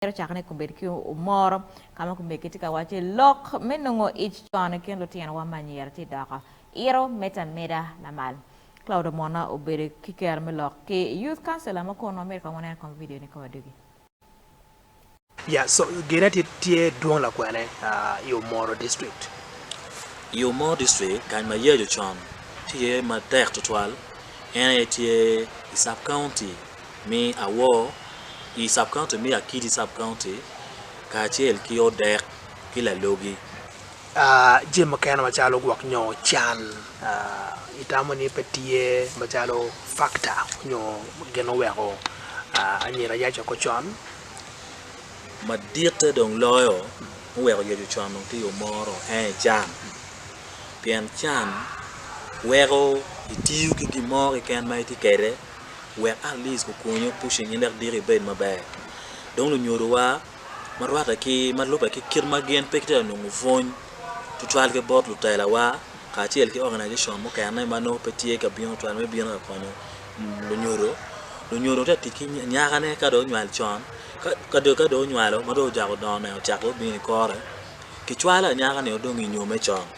Mito cako ni kubed ki omoro ka ma kumegi tye ka wacce lok me nongo ic con i kin lutinowa ma anyira tye doko iro med ameda lamal. Claude Omona obedo ki kero me lok ki Youth Councilor ma kono myero kong wanen kong video ni ka wadogi. Yeah so gine tye tye dwong lakwene i Omoro district. I Omoro district kany ma Yecu con tye iye matek tutwal en aye tye i Sub County. me awor i Sub-County me Akiti Sub-County kacel ki odek ki lalogi. Jami mukene macalo gwok nyo can itamo ni pe tye macalo factor nyo gin ma oweko anyira ayac oko con? Maditte dong loyo ma oweko yec ocon dong tye yo moro ene can pien can weko itiyo ki gin mo keken ma itye kwede. wek Alice kukunyo pushing in wek diki ibed maber. Dong lunyodowa ma rwatte ki ma lubbe ki kit ma gin pe gitye ka nongo pwony tutwal ki bot lutelawa kacel ki organization mukene ma nongo pe tye ka bino tutwal me bino ka konyo lunyodo. Lunyodo tye ka tic ki nyakane ka dong onywal con ka dong ka dong onywalo ma dong ojako dongo nene ocako dong bino ikore kicwalo anyaka ni dong inyo me con.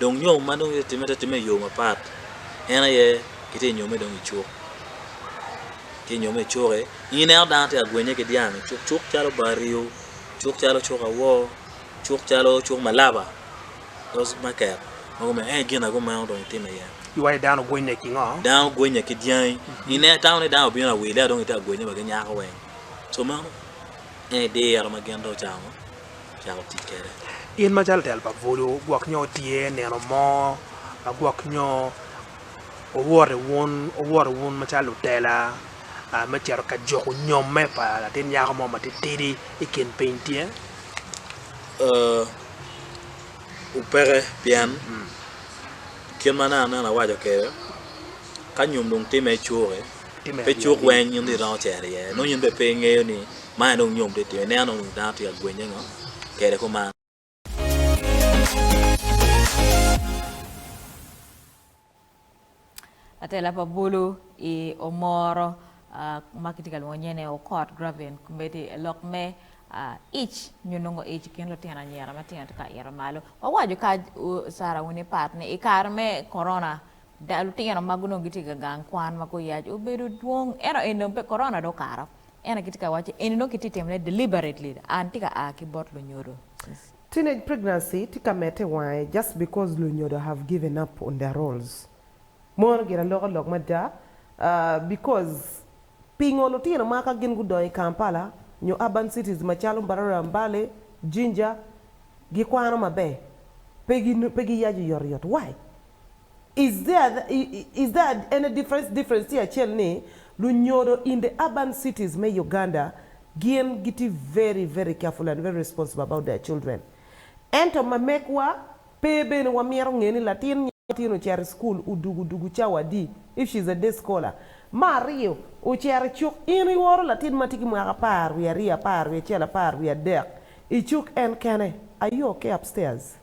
Dong nyo ma dong itye ka timme, itye ka timme i yo mapat. En aye kitye ka nyomme dong i cuk, itye ka nyomme i cuk-ki. In ineno dano tye ka gwenye ki dyang i cuk, cuk calo bar rio, cuk calo cuk awor, cuk calo cuk ma laba, those market ma gumeny. Ento gin aye meno dong itimo iye. Iwaco ni dano ogwennye ki ngo? Dano ogwennye ki dyangi. Ine, itamo ni dano obino awili-a dong itye ka gwenye wa ki nyako weng. So meno en diro ma gin dong ocamo. cako tic kwede. In macalo telo pa bulu gwok nyo tye nino mo ma gwok nyo owoto wun owoto wun macalo lutela me cito ka juku nyomme pa latin nyako mo matitidi i kin piny tye? Ooh peke pien kit ma nene aneno awaco kwede ka nyom dong time icuki. Pe cuk weng in rii dong ocero iye. Nongo in bene pe ingeyo ni man aye dong nyom tye timmi. Ineno dong ni dano tye ka gwenye ngo kede kuman. Atela pa bulu i Omoro ma kitye ka lwongo nyene Okot Gravin komedi lok me ic nyo nongo ic i kin lutino anyira matino tye ka ito malo. Wawaco ka Sarah Winnie Pat ni i kare me Corona Da, lutino magu nongo gitye ka gang kwan ma guyac obedo dwong ento eni dong pe korona dong okato. Ena kitye ka waco eni nongo kitye timone deliberately and tye ka a ki bot lunyodo since. Teenage pregnancy tye ka mete i wange just because lunyodo have given up on their roles. Mono gire aloka lok mada because pingo lutino ma ka gin gudongo i Kampala nyo urban cities macalo Mbarara, Mbale, Jinja gikwano maber pe giyaco yot yot why? Is there is there any difference difference tye acel ni lunyodo in the urban cities me Uganda gin gitye very very careful and very responsible about their children ento ma mekwa pe bene wa mito nge ni latin nyo latin ocito i school odugu odugu cawa adi if she is a day scholar me aryo ocito i cuk in i oro latin ma tye ki mwaka apar wiye aryo apar wiye acel apar wiye adek i cuk en kene are you okay upstairs.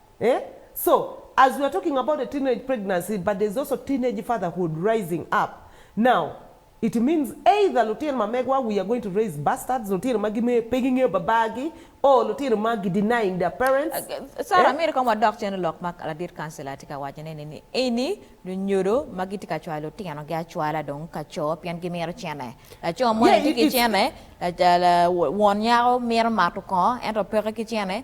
Eh? So, as we are talking about a teenage pregnancy but there's also teenage fatherhood rising up now, it means either lutino ma megwa we are going to raise bastards, lutino ma gime pe gingeyo babar gi or lutino ma gi denying their parents. Sarah, Eh? amito kong wadok cen i lok ma ladit kancila tye ka wacone ni, ni eni lunyodo ma gitye ka cwalo lutinogi acwala dong ka co pien gimito cene. Laco moni Yeah, tye it, ki it's, cene, la, la, la, won nyako mito mato kongo ento peke ki cene,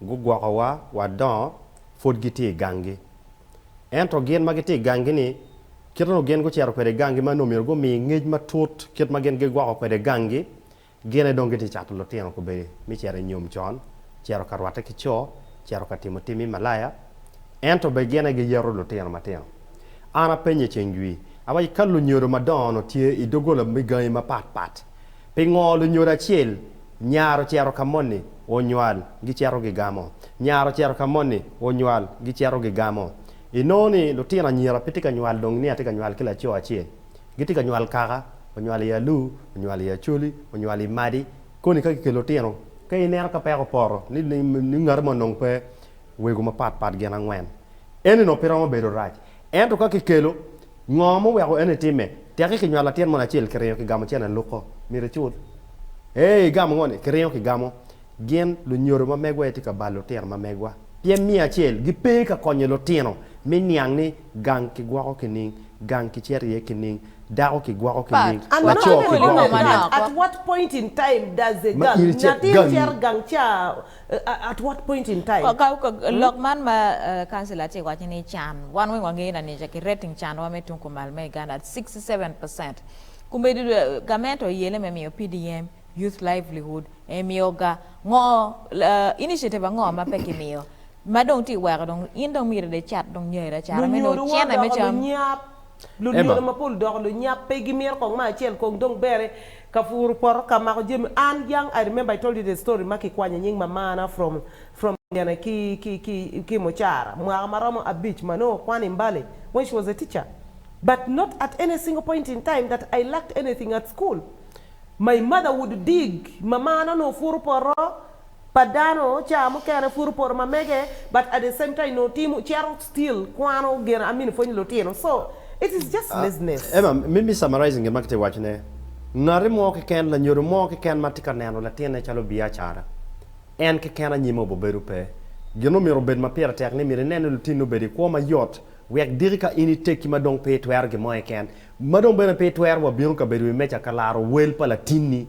Gugwokowa wa dongo pud gitye i ganggi. Ento gin ma gitye i ganggi-ni, kit onongo gin gucito kwede i ganggi ma nongo myero gumi ngec matut kit ma gin gigwoko kwede ganggi, gin aye dong gitye ka cato lutino kobedi me cito i nyom con, cito ka rwatte ki co, cito ka timo tim me malaya. Ento bene gin aye giyeto lutino matino. An apenyo i ceng jwi, awaco, 'Ka lunyodo madongo-nu tye i doggola me gangi mapatpat, Pingo lunyodo acel nyar ocito ka moni onywal gicito gigamo? Nyar ocito ka moni onywal gicito gigamo. Inongo ni lutino anyira pe tye ka nywal dong ni atye ka nywal ki laco acel. Gitye ka nywal kaka, onywal i alu, onywal i acholi, onywal i madi. Koni ka kikelo lutino, ka ineno ka peko opoto ni ni ngati mo onongo pe wego mapatpat gin angwen. Eni onongo pe romo bedo rac. Ento ka kikelo, Ngo muweko eno itimme? Teki kinywalo latin mono acel kiringo kigamo cene aluko. Myero icul. Eeh igamo ngo ni? Kiringo kigamo. Gin lunyodo ma megwa aye tye ka balo lutino ma megwa. Pien miyo acel gipe ka konyo lutino me niang ni gang kigwoko kining, gang kicito iye kining, dako kigwoko kining, laco kigwoko kining. At what point in time does a girl, nyatin cito gang ca At what point in time? Lok man ma councillor tye waco ni can wan weng wangeyo na nica ki rating can wa me tung kumal me Uganda at sixty seven percent kumedi gament oyele me miyo PDM youth livelihood emiyo ga ngo initiative ango ma pe kimiyo ma dong tye weko dong in dong myero de icat dong nyeri acara me nongo cene me cam. Emma. Lunyodo mapol odoko lunyap pe gimito kong ma acel kong dong bere Ka puru poto ka mako jami an young I remember I told you the story ma kikwanyo nying mamana from from gene ki ki ki ki mucara mwaka ma romo abic ma nongo kwan I mbale when she was a teacher but not at any single point in time that I lacked anything at school my mother would dig mamana onongo puru poto pa dano caa mukene puro poto mamege but at the same time nongo timo cito still kwano geno amini pwonyo lutino so it is just laziness. Emma, me me summarizing gin ma kitye waco ne, ngati mo keken, lanyodo mo keken ma tye ka neno latinne calo biacara, en keken anyime obobedo pe. Gin ma omyero obed ma pire tek ni myero inen ni lutinni obedo i kwo mayot wek diki ka in iteki ma dong pe itwero gin mo keken, ma dong bene pe itwero wa bino kabedo wi meja ka laro wel pa latinni.